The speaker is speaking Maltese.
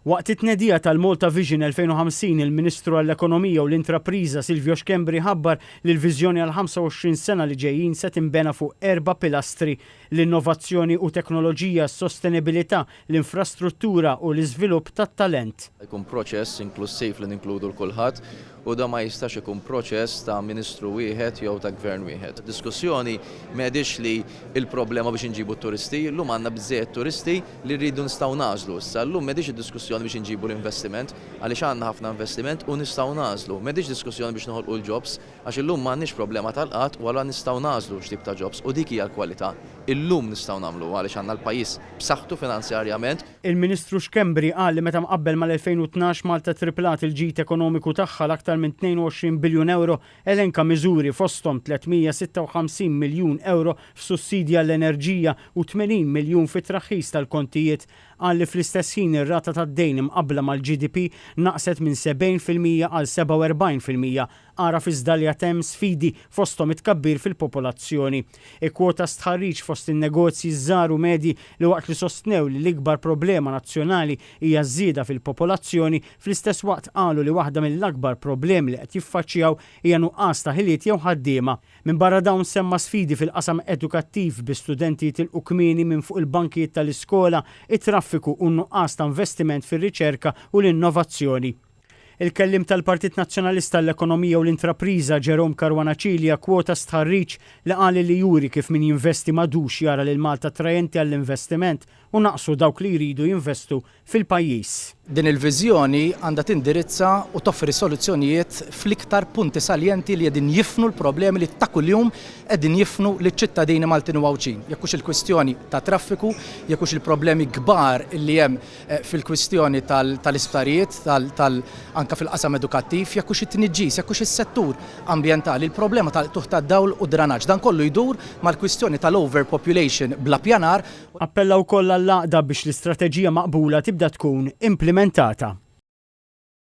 Waqt it-tnedija tal-Malta Vision 2050, il-Ministru għall-Ekonomija u l-Intrapriża Silvio Schembri ħabbar li l-viżjoni għall-25 sena li ġejjin se tinbena fuq erba' pilastri, l-innovazzjoni u teknoloġija, s-sostenibilità, l-infrastruttura u l-iżvilupp tat-talent. Jkun proċess inklussiv li ninkludu 'l kulħadd u dan ma jistax ikun proċess ta' Ministru wieħed jew ta' Gvern wieħed. Id-diskussjoni m'għedhiex li l-problema biex inġibu t-turisti, illum għandna biżżejjed turisti li rridu nistgħu nagħżlu issa, illum m'għedhiex id-diskussjoni biex inġibu l-investiment għaliex għandna ħafna investiment u nistgħu nagħżlu, m'għedhiex diskussjoni biex noħolqu l-jobs għax illum m'għandniex problema tal-qgħad u allura nistgħu nagħżlu x'tip ta' jobs u dik hija l-kwalità, illum nistgħu nagħmluha għaliex għandna l-pajjiż b'saħħtu finanzjarjament. Il-Ministru Schembri qal li meta mqabbel mal-2012 Malta ttriplat il-ġid ekonomiku tagħha l-aktar minn 22 biljun ewro, elenka miżuri fosthom 356 miljun ewro f'sussidji għall-enerġija u 80 miljun fit-traħħis tal-kontijiet. Qal li fl-istess ħin ir-rata tad-dejn imqabbla mal-GDP naqset minn 70 fil-mija għal 47 fil-mija. Agħraf iżda li għad hemm sfidi fosthom it-tkabbir fil-popolazzjoni. Ikkwota stħarriġ fost in-negozji ż-żgħar u medji li waqt li sostnew li l-ikbar problema nazzjonali hija ż-żieda fil-popolazzjoni, fl-istess waqt qalu li waħda mill-akbar problemi li qed jiffaċċjaw hija nuqqas ta' ħiliet jew ħaddiema. Minbarra dawn semma sfidi fil-qasam edukattiv bi studenti jitilqu kmieni minn fuq il-bankijiet tal-iskola, it-traffiku u n-nuqqas ta' investiment fir-riċerka u l-innovazzjoni. Il-Kelliem tal-Partit Nazzjonalista għall-Ekonomija u l-Intrapriża, Jerome Caruana Cilia kkwota stħarriġ li qal li juri kif min jinvesti m'għadux jara lil Malta attrajenti għall-investiment u naqsu dawk li jridu jinvestu fil-pajjiż. Din il-viżjoni għandha tindirizza u toffri soluzzjonijiet fl-iktar punti saljenti li qegħdin jifnu l-problemi li ta' kuljum qegħdin jifnu liċ-ċittadini Maltin u Għawdxin. Jekk hux il-kwistjoni tat-traffiku, jekk hux il-problemi kbar li hemm fil-kwistjoni tal-isptarijiet, anke fil-qasam edukattiv, jekk hux it-tniġġis, jekk hux is-settur ambjentali, il-problema tal-qtugħ tad-dawl u d-dranaġġ. Dan kollu jdur mal-kwistjoni tal-overpopulation bla ppjanar. Appella wkoll għall-għaqda biex l-istrateġija maqbula tibda tkun implimentata.